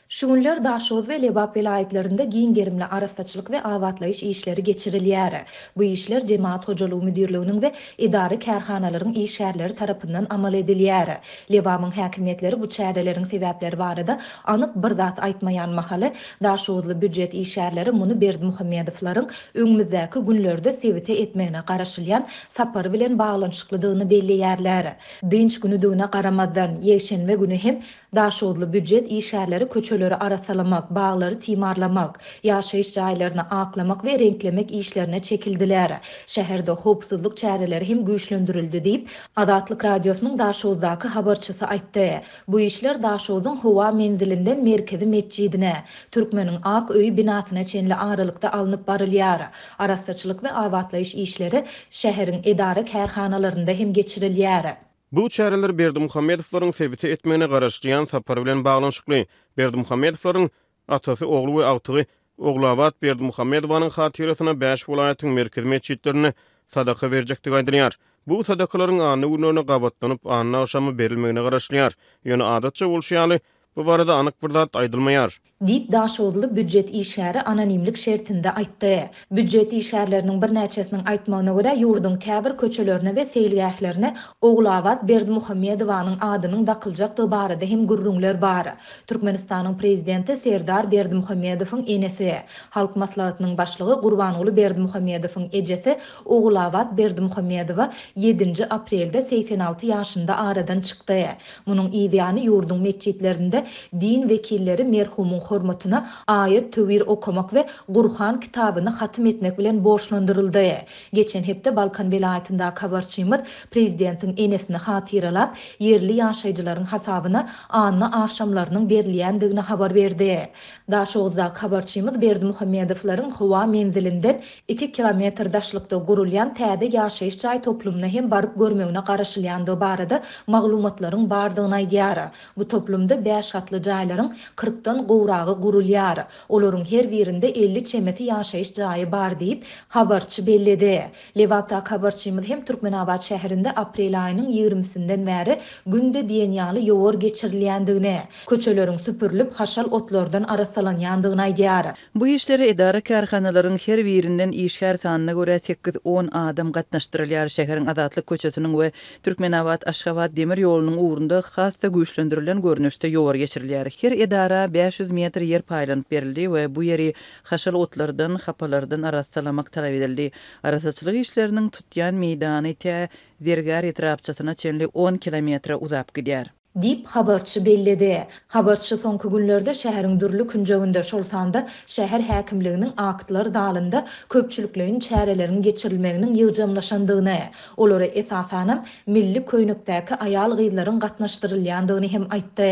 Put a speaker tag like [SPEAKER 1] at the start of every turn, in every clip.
[SPEAKER 1] Şu günler Daşoguz we Lebap welaýatlarynda giň gerimli arassaçylyk we abatlaýyş işleri geçirilýär. Bu işler Jemagat hojalygy müdirliginiň we edara-kärhanalaryň işgärleri tarapyndan amal edilýär. Lebabyň häkimiýetleri bu çäreleriň sebäpleri barada anyk bir zat aýtmaýan mahaly, daşoguzly býujet işgärleri muny Berdimuhamedowlaryň öňümizdäki günlerde sebite etmegine garaşylýan sapary bilen baglanyşyklydygyny belleýärler. Dynç günüdigine garamazdan, ýekşenbe güni hem Daşoguzly býujet işgärleri köçeleri arassalamak, baglary timarlamak, ýaşaýyş jaýlaryny aklamak we reňklemek işlerine çekildiler. Şäherde howpsuzlyk çäreleri hem güýçlendirildi diýip, Azatlyk Radiosynyň Daşoguzdaky habarçysy aýtdy. Bu işler Daşoguzyň howa menzilinden Merkezi metjidine, Türkmeniň ak öýi binasyna çenli aralykda alnyp barylýar. Arassaçylyk we abatlaýyş işleri şäheriň edara-kärhanalarynda hem geçirilýär. Bu çäreler
[SPEAKER 2] Berdimuhamedowlaryň sebite etmegine garaşylýan sapar bilen baglanyşykly. Berdimuhamedowlaryň Atasy, ogly we agtygy Ogulabat Berdimuhamedowanyň hatyrasyna bäş welaýatyň merkezi metjitlerinde sadaka berjekdigi aýdylýar. Bu sadakalaryň anna günlerine gabatlanyp, anna agşamy berilmegine garaşylýar. Ýöne adatça bolşy ýaly, Bu barada anyk bir zat aýdylmaýar. Diýip, daşoguzly
[SPEAKER 1] býujet işgäri anonimlik şertinde aýtdy. Býujet işgärleriniň birnäçesiniň aýtmagyna görä, ýurduň käbir köçelerine we seýilgählerine Ogulabat Berdimuhamedowanyň adynyň dakyljakdygy barada hem gürrüňler bar. Türkmenistanyň prezidenti Serdar Berdimuhamedowyň enesi, Halk Maslahatynyň başlygy Gurbanguly Berdimuhamedowyň ejesi Ogulabat Berdimuhamedowa ýedinji aprelde segsen alty ýaşynda aradan çykdy. Munuň yz ýany ýurduň metjitlerinde din wekilleri merhumyň hormatyna aýat-töwir okamak we Gurhan kitabyny hatym etmek bilen borçlandyryldy. Geçen hepde Balkan welaýatyndaky habarçymyz prezidentiň enesini hatyralap, ýerli ýaşaýjylaryň hasabyna anna agşamlarynyň berilýändigini habar berdi. Daşoguzdaky habarçymyz Berdimuhamedowlaryň howa menzilinden Iki kilometr daşlykda gurulýan täze ýaşaýyş jaý toplumyna hem baryp görmegine garaşylýandygy barada maglumatlaryň bardygyny aýdýar. Bu toplumda bäş gatly jaýlaryň kyrkdan gowragy gurulýar. Olaryň her birinde elli çemesi ýaşaýyş jaýy bar diýip, habarçy belledi. Lebapdaky habarçymyz hem Türkmenabat şäherinde aprel aýynyň ýigrimisinden bäri günde diýen ýaly ýowar geçirilýändigini, köçeleriň süpürilip, haşal otlardan arassalanýandygyny aýdýar. Bu işlere
[SPEAKER 3] edara-kärhanalaryň her birinden işgär sanyna görä sekiz-on adam gatnaşdyrylýar, şäheriň Azatlyk köçesiniň we Türkmenabat-Aşgabat demir ýolunyň ugrunda has-da güýçlendirilen görnüşde ýowar geçirilýär. Her edara bäş ýüz metr ýer paýlanyp berildi we bu ýeri haşal otlardan, hapalardan arassalamak talap edildi. Arassaçylyk işleriniň tutýan meýdany tä Zergär etrapçasyna çenli on kilometre uzap gidýär. diýip, habarçy
[SPEAKER 1] belledi. Habarçy soňky günlerde şäheriň dürli künjeginde, şol sanda şäher häkimliginiň aktlar zalynda köpçülikleýin çäreleriň geçirilmeginiň ýygjamlaşandygyny, olara esasanam milli köýnekdäki aýal-gyzlaryň gatnaşdyrylýandygyny hem aýtdy.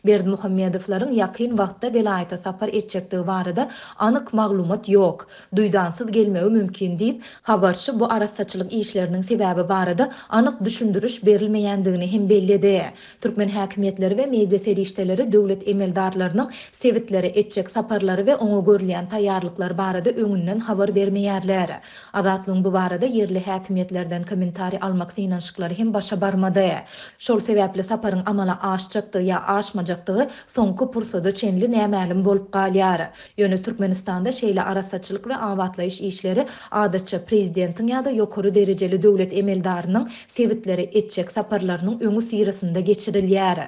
[SPEAKER 1] Berdimuhamedowlaryň ýakyn wagtda welaýata sapar etjekdigi barada anyk maglumat ýok. duýdansyz gelmegi mümkin diýip, habarçy bu arassaçylyk işleriniň sebäbi barada anyk düşündiriş berilmeýändigini hem belledi. Türkmen häkimiýetleri we media serişdeleri döwlet emeldarlarynyň sebitlere etjek saparlary we oňa görülýän taýýarlyklar barada öňünden habar bermeýärler. Azatlygyň bu barada ýerli häkimiýetlerden kommentariý almak synanyşyklary hem başa barmady. Şol sebäpli saparyň amala aşjakdygy ýa aşmajakdygy soňky pursada çenli nämälim bolup galýar. Ýöne Türkmenistanda şeýle arassaçylyk we abatlaýyş işleri adatça prezidentiň ýa-da ýokary derejeli döwlet emeldarynyň sebitlere etjek saparlarynyň öňüsyrasynda geçirilýär.